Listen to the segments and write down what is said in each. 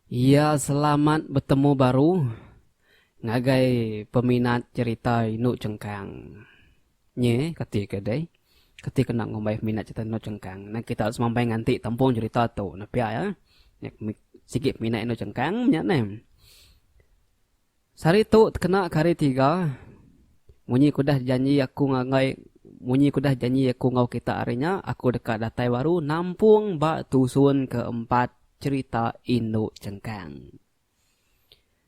Iya selamat betemu baru ngagai peminat cerita indu chengkang. Nya, kati ke deh? Kati kena ngumbai peminat cerita endur chengkang? Nan kita harus mambai nganti tempung cerita tu. Nah pia iya. Nya sigi peminat endur chengkang nya neh. Sehari tu tekena ke hari tiga, munyi ku dah janji aku ngagai munyi ku dah janji aku enggau kita hari nya, aku deka datai baru nampung ba tusun keempat cerita endur chengkang.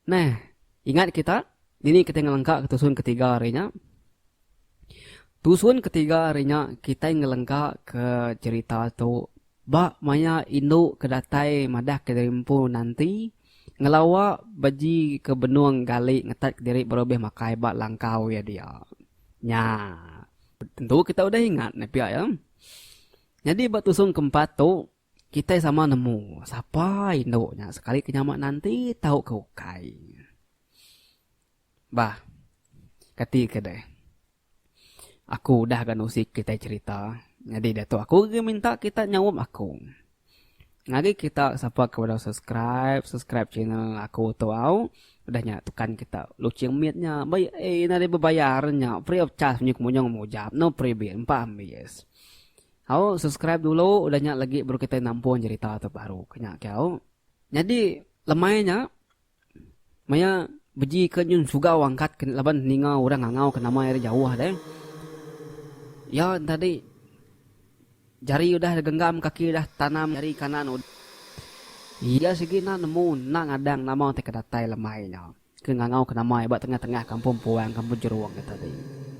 Nah, ingat kita dini kitai ngelengkaka tusun ketiga hari nya? Tusun ketiga hari nya kitai ngelengkaka cerita tu ba maya indu ke datai madah ke diri empu nanti ngelawa beji ke benung gali ngetat ke diri baru ulih makai ba langkau iya dia. Nya, tentu kita udah ingat ne pia iya. Nyadi ba tusun keempat tu. Kitai sama nemu sapa indu nya sekali ke nyama nanti tau ke ukai. Bah. Kati ke deh. Aku udah ga nusi kitai cerita nyadi diatu aku agi minta kita nyaup aku. Ngagi kita sapa ke udah subscribe, subscribe channel aku tu au. Udah nya tekan kita luching mit nya. Ba ai ina deh bebayar nya free of charge menyuk munyung mujap no freebie empa ambis. Au subscribe dulu udah nya legi baru kitai nampun jerita tu baru ke nya ke au. Nyadi lemai nya maya beji ke nyun sugau angkat ke laban ninga orang ngangau ke nama iya dah jauh deh. Ya tadi jari udah genggam kaki udah tanam jari kanan udah. Iya sigi enda nemu enda ngadang nama ti ke datai lemai nya. Ke ngangau ke nama ai ba tengah-tengah kampung puang kampung jerung ke tadi.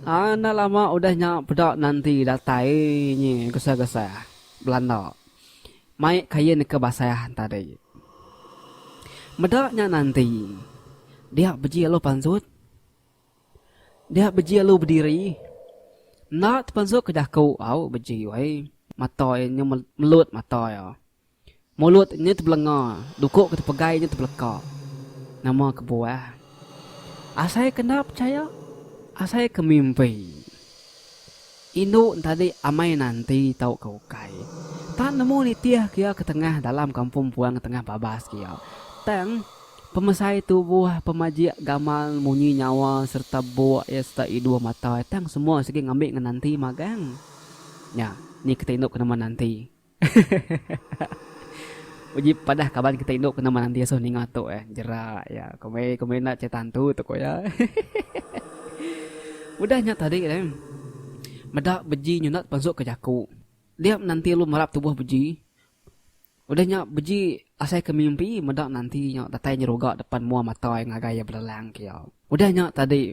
Haa enda lama udah nya peda nanti datai nyi gesah-gesah belanda mai kain ke basah tadi. Meda nya nanti dia beji alu pansut dia beji alu bediri enda tepansut ke jaku au beji wai mata iya nyu melut mata iya. Mulut nya tebelenga, duko ke tepegai nya tebeleka. Nama kebuah? Asai ke enda pechaya, asai ke mimpi. Indu entadi amai nanti tauka ukai. Tan nemu nitih ke iya ketengah dalam kampung puang tengah babas ke iya. Tang, pemesai tubuh, pemajik gamal, munyi nyawa sereta buk iya sereta iduh mata iya tang semua sigi ngambi ngenanti magang. Nya, ni kita indu ke nama nanti. Hehehehehe uji padah kaban kita indu ke nama nanti asuh ninga tu eh jera iya ko meh ko meh enda cerita hantu tu ko iya hehehehehe udah nya tadi neh meda beji nyenda tepensuk ke jaku dia menanti lu merap tubuh beji udah nya beji asai ke mimpi meda nanti nya datai nyeruga depan mua mata iya ngagai iya belelang ke iya udah nya tadi.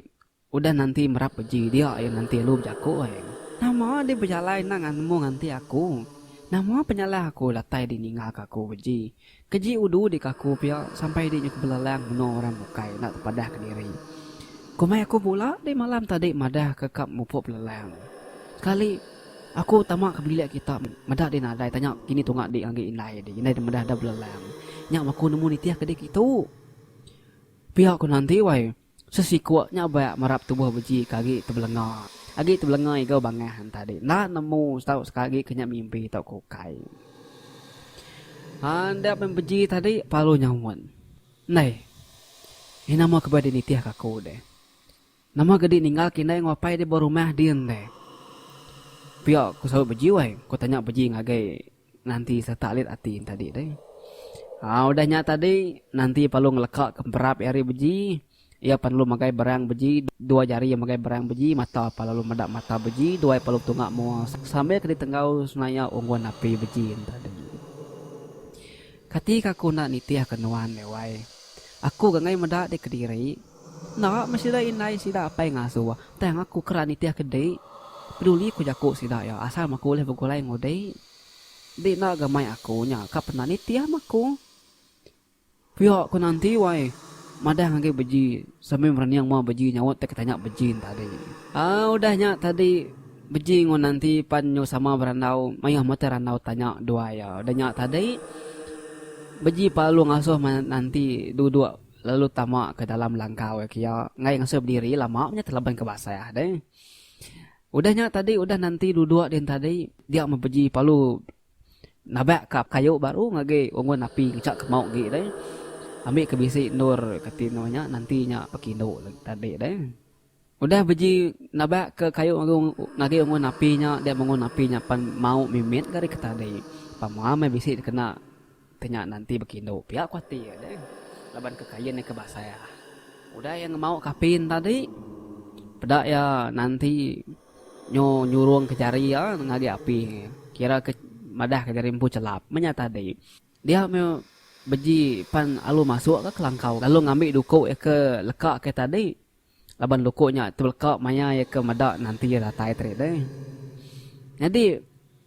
Udah nanti merap beji dia aye nanti alu bejaku ai. Nama deh bejalai enda nganmu nganti aku. Nama penyalah aku datai deh ninga ke aku beji. Keji udu deh ke aku pia sampai deh nyuk belelang meno orang bukai enda tepadah ke diri. Komai aku pula deh malam tadi madah ke ka mupuk belelang. Sekali aku tama ke bilik kita meda deh nadai tanya kini tunga deh agi indai deh indai deh meda enda belelang. Nya aku nemu nitih ke deh kitu. Pia ku nanti wai. Sesikuk nya bak merap tubuh beji ke agi tebelenga. Agi tebelenga iga bangah enta dek enda nemu setau seka agi ke nya mimpi tau ko ukai. Haa enda pen beji tadi palu nyaut. Ndai. Ih nama ke beh dek nitih ke aku dek. Nama ke dek ninggal ke indai enggau apai dek ba rumah din dek. Pia ku saut beji wai, ku tanya beji ngagai. Nanti sereta alit ati enti tadi deh. Ha, udah nya tadi, nanti perlu ngeleka ke emperap iya hari beji. Iya pan lalu magai berang beji, dua jari iya magai berang beji, mata pan lalu meda mata beji, dua iya pan lalu betunga mua sambil ke ditenggau senaya unggun api beji enti tadi. Kati ke aku enda nitihka nuan deh wai. Aku ga ngai meda deh kediri. Enda meh sida indai sida apai ngasuh tang aku keran nitih ke dik peduli ku jaku sida iya asal meh aku ulih begulai enggau dik. Dik enda ga mai aku nya ka pernah nitih meh aku. Pia ku nanti wai madah agi beji sambil merening mua beji nyaut teka tanya beji nya tadi. Aaa udah nya tadi beji enggau nanti pan nyu sama berandau mayuh mete randau tanya dua iya udah nya tadi beji palu ngasuh nanti duduk. lalu tama ke dalam langkau iya kia enggai ngasuh bediri lama nya telaban ke basah deh. Udah nya tadi udah nanti duduk din tadi dia meh beji palu nabak ka kayu baru ngagi ungun api ngechak ke mau agi deh. Ambi ke bisi endur kati nya nanti nya pekindu tadi deh. Udah beji nabak ke kayu ngagi ungun api nya dia mungun api nya pan mau mimit ga rika tadi pa mua meh bisi dikena ti nya nanti bekindu pia ku ati iya deh laban ke kain iya ke basah. Udah iya ngemau ka api nya tadi peda iya nanti nyu nyurung ka jari iya ngagi api kira ke madah ka jari empu chelap meh nya tadi dia meh beji pan alu masuk ka langkau lalu ngambi duku iya ke leka ke tadi laban luku nya ti beleka maya iya ke meda nanti iya datai tadi deh. Nyadi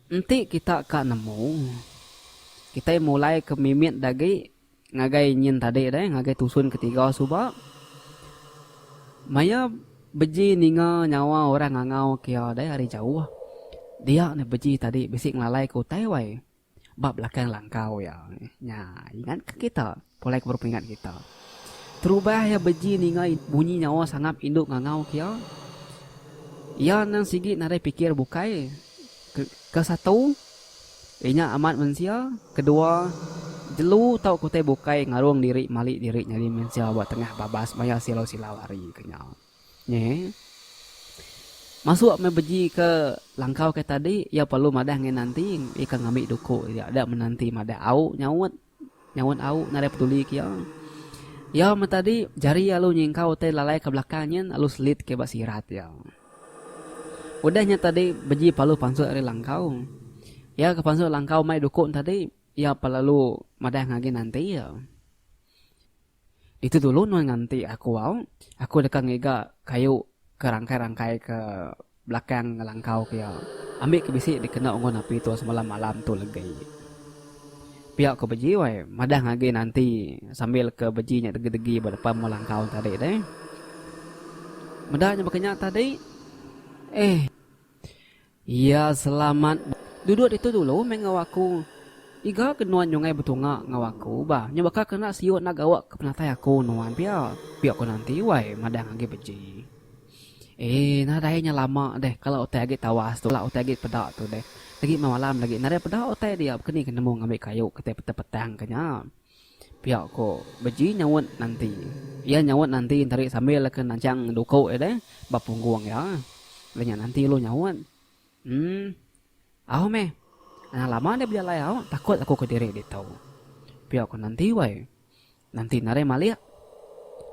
enti kita ka nemu kitai mulai ke mimit dagi ngagai nyin tadi deh ngagai tusun ketiga suba maya beji ninga nyawa orang ngangau ke iya deh ari jauh dia ne beji tadi bisi ngelalai ke utai wai. ba belakang langkau iya. Nya, ingatka kita, pulai ke berperingat kita. Terubah iya beji ninga bunyi nyawa sangap indu ngangau ke iya. Iya endang sigi nadai pikir bukai. Ke, ke satu, inya amat mensia, kedua, jelu tauka utai bukai ngarung diri mali diri nyadi mensia ba tengah babas maya silau-silau hari ke nya. Nya eh. Masuk meh beji ke langkau ke tadi iya perlu madah ngai nanti ika ngambi duku iya da menanti madah au nyaut nyaut au nadai peduli ke iya. Iya meh tadi jari iya lalu nyingkau utai lalai ke belakang nyin lalu selit ke ba sirat iya. Udah nya tadi beji palu pansut ari langkau. Iya ke pansut langkau mai duku tadi iya pa lalu madah agi nanti iya. Ditu dulu nuan nganti aku au, aku deka ngiga kayu ke rangkai-rangkai ke belakang ngelangkau ke iya, ambi ke bisi dikena unggun api tu semalam malam tu legi. Pia ko Beji wai, madahng agi nanti sambil ke Beji nya degi-degi ba depan mua langkau tadi deh. Meda nya baka nya tadi. Eh. Iya selamat bah. Duduk ditu dulu meh enggau aku. Iga ke nuan nyungai betunga enggau aku bah. Nya baka ke enda siuk enda gawa ke penatai aku nuan pia. Pia ku nanti wai madang agi beji. Ee nadai nya lama deh kala utai agi tawas tu kala utai agi peda tu deh. Agi meh malam lagi nadai peda utai dia baka ni ke nemu ngambi kayu kitai petang-petang ke nya. Pia ko Beji nyaut nanti. Iya nyaut nanti entari sambil ke nanchang duko iya deh ba punggung iya. Lalu nya nanti lalu nyaut. Emm. Au meh. Anang lama deh bejalai au, takut aku ke diri ditu. Pia ko nanti wai. Nanti narai malik.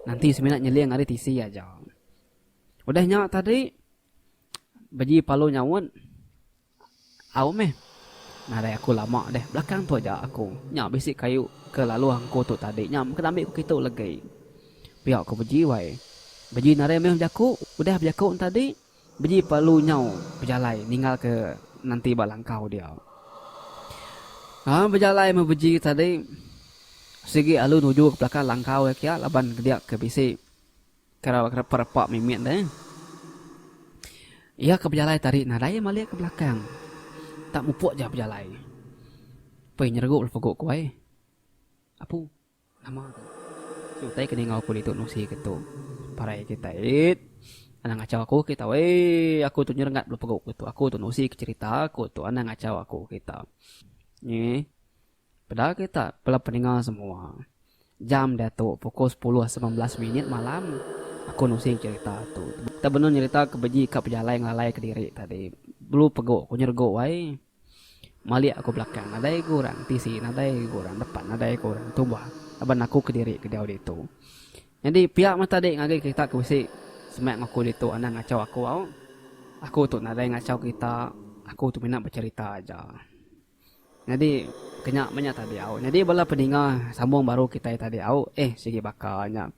Nanti semina nyeling ari tisi aja. Udah nya tadi Beji palu nyaut, Au meh. Nadai aku lama deh. Belakang tu aja aku. Nya bisi kayu ke lalu angku tu tadi nya mega ambi ku kitu legi. Pia ku Beji wai. Beji nadai meh bejaku. Udah bejaku nya tadi, Beji palu nyau bejalai ninggal ke nanti ba langkau dia. Laban bejalai meh Beji tadi, sigi alu nuju ke belakang langkau iya kia laban dia ke bisi. Kerau ke repa-repa mimit deh. Iya ke bejalai tadi nadai iya malik ke belakang. Tak mupuk ja bejalai. Pei nyeregup le pegu ku ai. Apu nama tu? Si utai ke ninga aku ditu nusi ke tu. Parai kitai it. Anang ngachau aku kita wei. Aku tu nyerengat bala pegu ke tu. Aku tu nusi ke cherita aku tu anang ngachau aku kita. Nyi. Peda kita bela peninga semua. Jam diatu pukul sepuluh seben belas minit malam aku nusing cerita tu. Tang benung nyerita ke beji ka pejalai ngelalai ke diri tadi. Belu pegu ku nyergu ai. Malik aku belakang nadai ga orang tisi nadai ga orang depan nadai ga orang tumbah laban aku kediri ke diau ditu. Nyadi pia meh tadi ngagai kita ke bisi semak ngaku ditu anang ngachau aku au. Aku tu nadai ngachau kita aku tu mina becerita aja. Nyadi kenya meh nya tadi au. Nyadi bala peninga sambung baru kitai tadi au eh sigi baka nya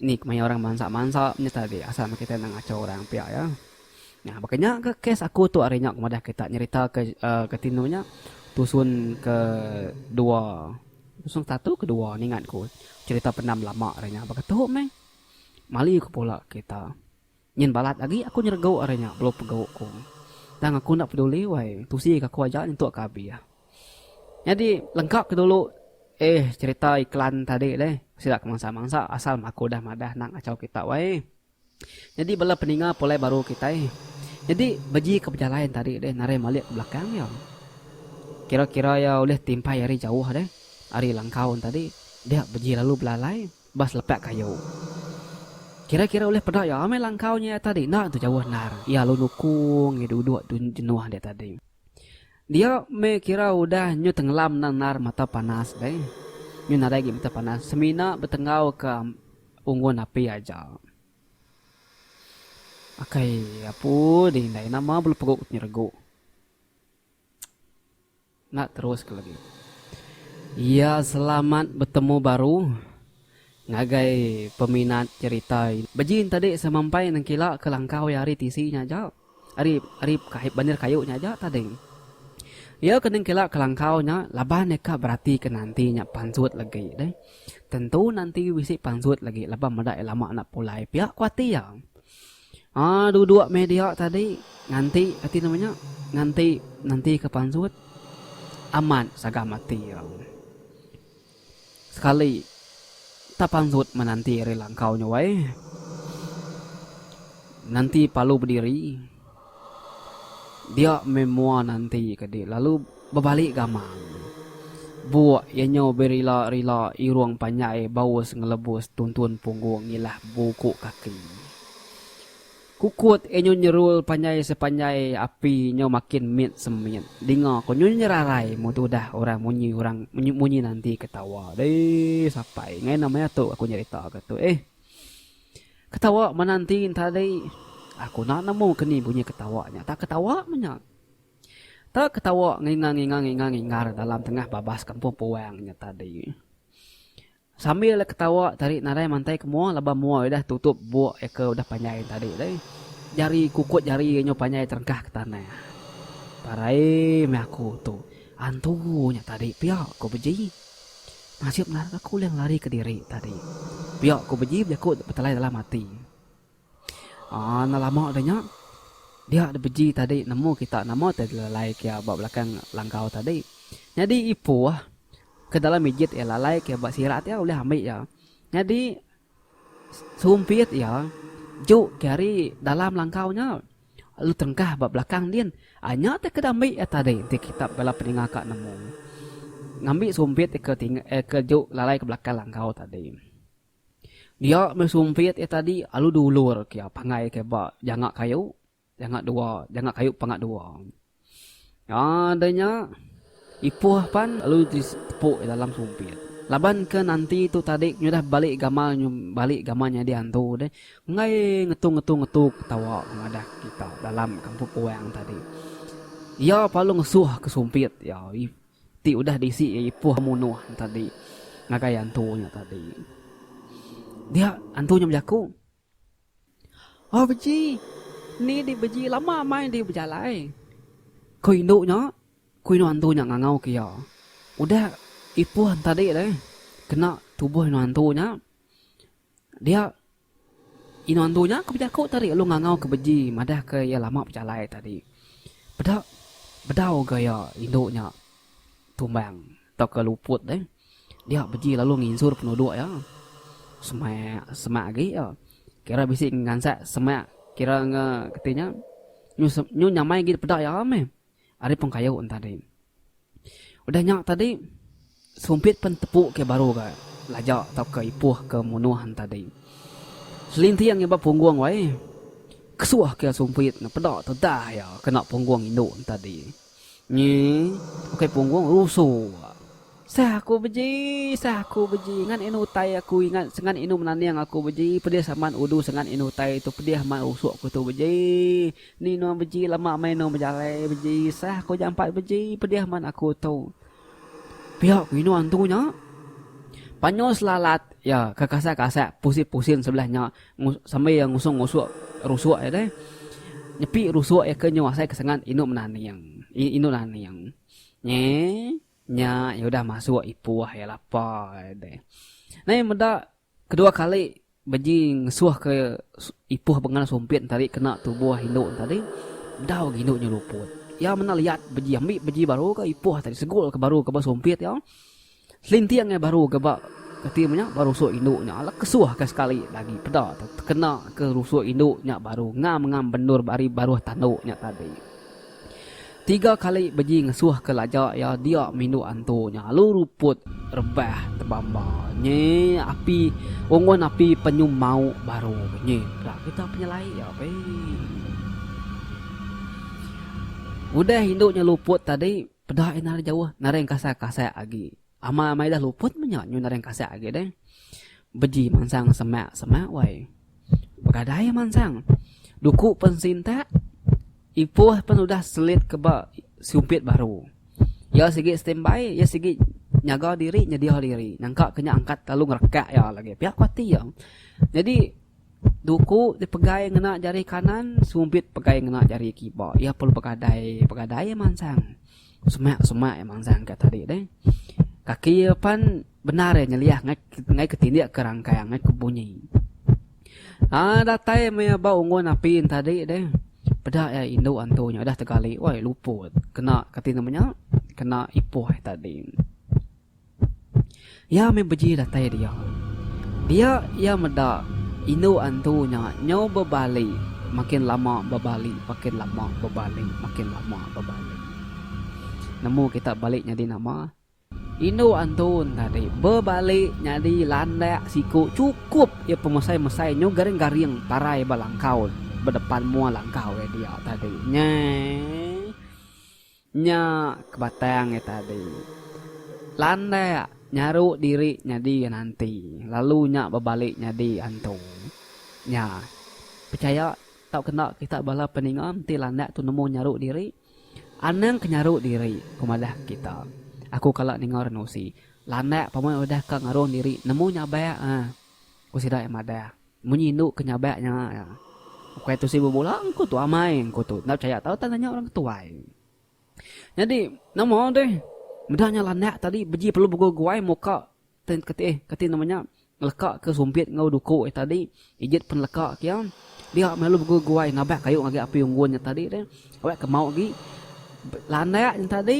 ni kemaya orang mansa-mansa nya tadi asal meh kitai enda ngacho orang pia iya. Nah baka nya ka kes aku tu ari nya madah kita nyerita ke uhh ke tinu nya tusun ke dua tusun ke satu ke dua ningat ku cerita pendam lama ari nya baka tu meh mali ku pula kita. Nyin balat agi aku nyeregu ari nya belu pegu ku. Tang aku enda peduli wai, tusi ka aku aja nyentuk ka abih. Nyadi lengkap ke dulu eh cerita iklan tadi deh sida ke mansa mansa asal meh aku udah madah nang achau kita wai. Nyadi bala peninga pulai baru kitai nyadi beji ke bejalai tadi deh narai malik ke belakang iya. Kira kira iya ulih timpai ari jauh deh ari langkau tadi dia beji lalu belalai. Ba selepak kayu. Kira-kira ulih peda iya meh langkau nya iya tadi enda tu jauh endar. Iya lalu nukung iya duduk tu jenuh dia tadi. Dia meh kira udah nyu tenggelam endang endar mata panas deh. Nyu nadai agi mata panas semina betenggau ke unggun api aja. Akai apu dih indai nama belu pegok tu nyeregu. Enda terus ke lagi. Iya selamat betemu baru ngagai peminat cerita ini. Beji entadi semampai nengkila ke langkau iya ari tisi nya aja. Ari ari bandar kayu nya aja tading. Iya ke nengkila ke langkau nya laban iya ka berati ke nanti nya pansut legi deh. Tentu nanti bisi pansut legi laban meda iya lama enda pulai pia ku ati iya. Haa duduk meh dia tadi nganti ati nama nya nganti nanti ke pansut amat sagam ati iya sekali tak pansut menanti ari langkau nya wai nanti palu bediri dia meh mua nanti ke di lalu. Bebali gamang. Buk iya nyau berila-rila irung panjai baus ngelebus tuntun punggung ngilah buku kaki. Kukut iya nyau nyerul panjai sepanjai api nyau makin mit semit. Dinga ko nyau nyerarai mun tu udah orang munyi orang munyi nanti ketawa. Deh sapai ngai nama iya tu aku nyerita ke tu eh. Ketawa menanti ntadi. Aku enda nemu ke ni bunyi ketawa nya. Tak ketawa meh nya. Tak ketawa ngingar-ngingar-ngingar-ngingar dalam tengah babas kampung puang nya tadi. Sambil iya ketawa tarik nadai mantai ke mua laban mua iya udah tutup buk iya ke udah panjai tadi deh. Jari kukut jari iya nyau panjai terengkah ke tanah. Parai meh aku tu. Antu nya tadi pia ku beji. Nasib narak aku ulih ngelari kediri tadi. Pia ku beji bejaku betelai dalam ati. Aaa enda lama udah nya. Dia da beji tadi nemu kita nama ti dilalai ke ba belakang langkau tadi. Nyadi ipoh ke dalam ijit iya lalai ke ba sirat iya ulih ambi iya. Nyadi sumpit iya juk ke ari dalam langkau nya lalu tengkah ba belakang din. Aaa nya ti ke diambi iya tadi ti kitak bala peninga ka nemu. Ngambi sumpit ti ke tingga ti ke juk lalai ke belakang langkau tadi. Dia meh sumpit iya tadi alu dulur kia pangai ke ba janga kayu janga dua janga kayu panga dua. Aa deh nya ipoh pan alu ti tepu iya dalam sumpit. Laban ke nanti tu tadi nyudah balik gamal balik gamal nyadi antu deh enggai ngetu ngetu ngetu ketawa madah kita dalam kampung orang tadi. Iya pa alu ngesuh ke sumpit iya. Ti udah disi iya ipoh munoh nya tadi ngagai antu nya tadi. Dia antu nya bejaku. Oh beji ni di beji lama mai di bejalai. Ko indu nya ko inu antu nya ngangau ke iya. Udah ipoh nya tadi deh kena tuboh inu antu nya. Dia, inu andu nya ke bejaku tadi lalu ngangau ke beji madah ke iya lama bejalai tadi. Peda bedau ga iya indu nya tumbang tauka luput deh. Dia beji lalu nginsur penuduk iya. Semak semak agi iya. Kira bisi ngansat semak kira nge kati nya nyu nyamai agi peda iya meh. ari pengkayu enti tadi. Udah nya tadi Sumpit pen tepu ke baru ga laja tauka ipoh ke munoh enti tadi. Selinting iba punggung wai. Kesoh ke Sumpit ne peda tedah iya kena punggung indu enti tadi. Nyi ukai punggung rusu ga. Sah aku beji sah aku beji ngan inu utai aku ingat sengat inu menaning aku beji pedih amat udu sengat inu utai tu pedih amat rusok aku tu beji. Ni nuan beji lama meh nuan bejalai beji sah ku jampat beji pedih man aku tu. Pia ku inuan tu nya. Panyo selalat iya ke kasak-kasak pusing-pusing sebelah nya sambil iya ngusung ngusuk rusuk iya deh. Nyepi rusuk iya ke nyu asai ke sengat indu menaning. Indu naning. Nge nya iya udah masuk ipoh iya lapar iya deh. Nai meda. Kedua kali Beji ngesuhka Ipoh Bengal Sumpit ntadi kena tuboh indu ntadi, dau agi indu nya luput. Iya menda liat Beji ambi Beji baru ka Ipoh tadi segul ka baru ka ba Sumpit iya. Selinting ai baru ka ba kati meh nya ba rusuk indu nya ala kesuh ka sekali agi peda tekena ka rusuk indu nya baru ngam ngam bendur ari baruh tandu nya tadi. Tiga kali beji ngesuh ke laja iya dia mindu antu nya alu ruput rebah tebamba nyi api ungun api penyum mauk baru nyi pela kita penyelai iya be. Udah indu nya luput tadi peda iya nari jauh nari engkasai-kasai agi. Ama amai dah luput menya nyu nadai kasak agi deh. Beji mansang semak semak wai. Begadai mansang. Duku pen sintak. Ipoh pen udah selit keba sumpit baru. Ya sigi standby, ya sigi nyaga diri, nyedia diri. Nyangka kenya angkat lalu ngerekak ya lagi. Pia kuati ya. Jadi duku dipegai ngena jari kanan, sumpit pegai ngena jari kiba. Ya perlu begadai, begadai mansang. Semak semak ya manzang ka tadi deh. Kaki ya pan benar ya nyeliah ngai ngai ketindik ke rangkai ngai ke bunyi. Ah datai me ya bau ungun api tadi deh. Peda ya indu antu nya dah tegali wai luput. Kena kati nama nya? Kena ipoh tadi. Iya meh beji datai dia. Dia iya meda indu antu nya nyau bebali makin lama bebali makin lama bebali makin lama bebali. Nemu kita bali nyadi nama indu antu ne tadi bebali nyadi landak siku chukup iya pemesai mesai nyau garing garing parai ba langkau ba depan mua langkau iya dia tadi nyai. Nya ke batang iya tadi. Landak nyaru diri nyadi iya nanti, lalu nya bebali nyadi antu. Nya, pechaya tauka enda kita bala peninga mesti landak tu nemu nyaru diri. Anang ke nyaru diri ku madah kita. Aku kala ninga renusi, landak pemai udah ka ngarung diri nemu nyabak ah, ku sida iya madah. Munyi indu ke nyabak nya iya. Ukai tu sibu bula engku tu amai engku tu. Enda pechaya tau tanya nya orang ketuai. Nyadi nama deh meda nya landak tadi beji perlu beguai-guai muka ten ketih kati nama nya ngeleka ke sumpit enggau duku eh tadi ijit pen leka ke iya dia melalu beguai-guai ngabak kayu ngagai api unggun nya tadi deh. Awak ke mau agi landak nya tadi.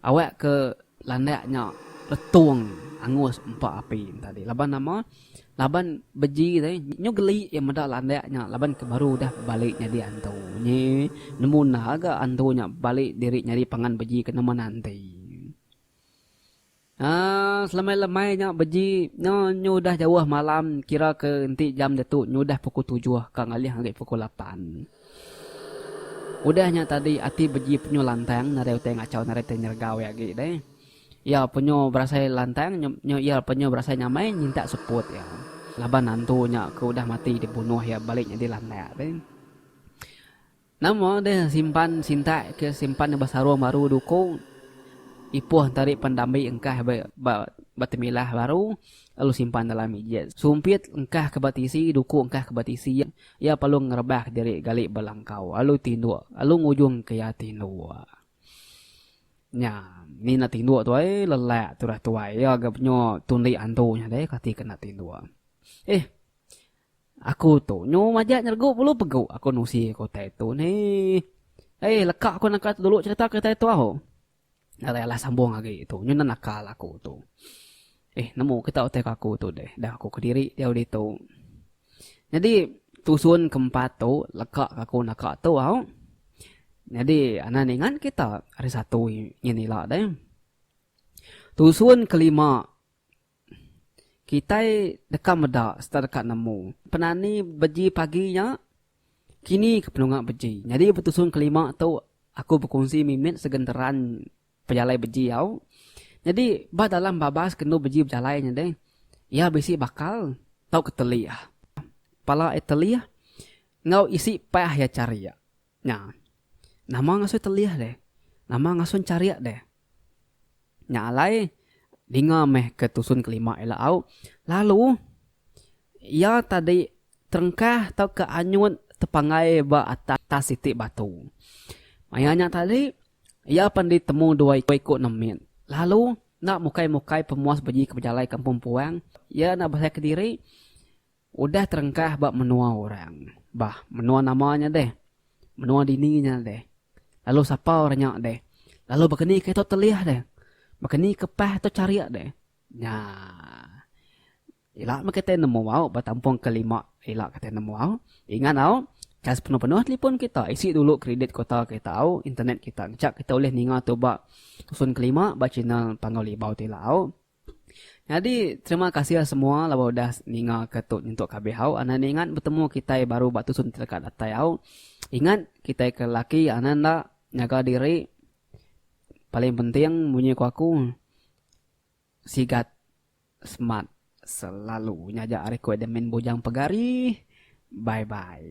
Awak ke landak nya retung angus empa api enta dih laban nama laban beji deh nyu geli iya meda landak nya laban ke baru udah bebali nyadi antu nyi nemu enda ga antu nya bebali diri nyadi pangan beji ke nama nanti aaa selamai lamai nya beji no nyu udah jauh malam kira ke enti jam diatu nyu udah pukul tujuh ka ngalih agi pukul lapan. Udah nya tadi ati beji penyu lantang nadai utai ngachau nadai utai nyeregau iya agi deh. Iya penyu berasai lantang nyu iya penyu berasai nyamai nyintak seput iya. Laban nantu nya ke udah mati dibunuh iya bali nyadi landak deh. Nama deh simpan sintak ke simpan iya ba sarung baru duku ipoh enta ri pan dambi engkah ba ba temilah baru lalu simpan dalam ijit. Sumpit engkah ke ba tisi duku engkah ke ba tisi. Iya perlu ngerebak diri gali belangkau lalu tinduk lalu ngujung ke iya tinduk. Nya mina tinduk tu ai lelak turah tuai iya ga penyu tundi antu nya deh kati ke enda tinduk. Ih. Aku tu nyu majak nyergu bulu pegu aku nusi ke utai tu neh. Ai leka aku naka tu dulu cerita ke utai tu au. Alai alah sambung agi tu nyunan akal aku tu. Eh nemu kita utai ka aku tu deh. Dah aku kediri diau ditu. Nyadi tusun ke empat tu leka ka aku naka tu au. Nyadi anak ningan kita ari satu nyin ila deh. Tusun ke lima. Kitai deka meda sereta deka nemu penani beji pagi nya kini ke penunga beji. Nyadi betusung kelima tu aku bekunsi mimit segenteran pejalai beji au. Nyadi ba dalam babas ke enu beji bejalai nya deh iya bisi bakal tauka telih. Pala iya telih enggau isi pah iya charik. Nya. Nama ngasuh telih deh. Nama ngasuh encharik deh. Nya alai, dinga meh ke tusun kelima ila au, lalu iya tadi terengkah tauka anyut tepanggai ba atas siti batu. Maya nya tadi, iya pan ditemu dua iku nemit. Lalu enda mukai-mukai pemuas beji ke bejalai kampung puang, iya enda besai kediri. Udah terengkah ba menua orang. Bah, menua nama nya deh? Menua dini nya deh? Lalu sapa orang nya deh? Lalu baka ni ke tu telih deh? Baka ni ke pah tu charik deh? Nya. Ila meh kitai nemu au ba tampung ke lima ila kitai nemu au. Ingat au, chas penuh-penuh telefon kita, isi dulu kridit kota kita au, internet kita. Ngancak kita ulih ninga tu ba tusun ke lima ba channel Panggau Libau ti ila au. Nyadi terima kasih semua laban udah ninga ke tu nyentuk ke abih au anan ingat betemu kitai baru ba tusun teleka datai au ingat kitai ke laki anan enda nyaga diri paling penting munyi ku aku sigat smart selalu nya aja ari ku admin bujang pegari bye bye.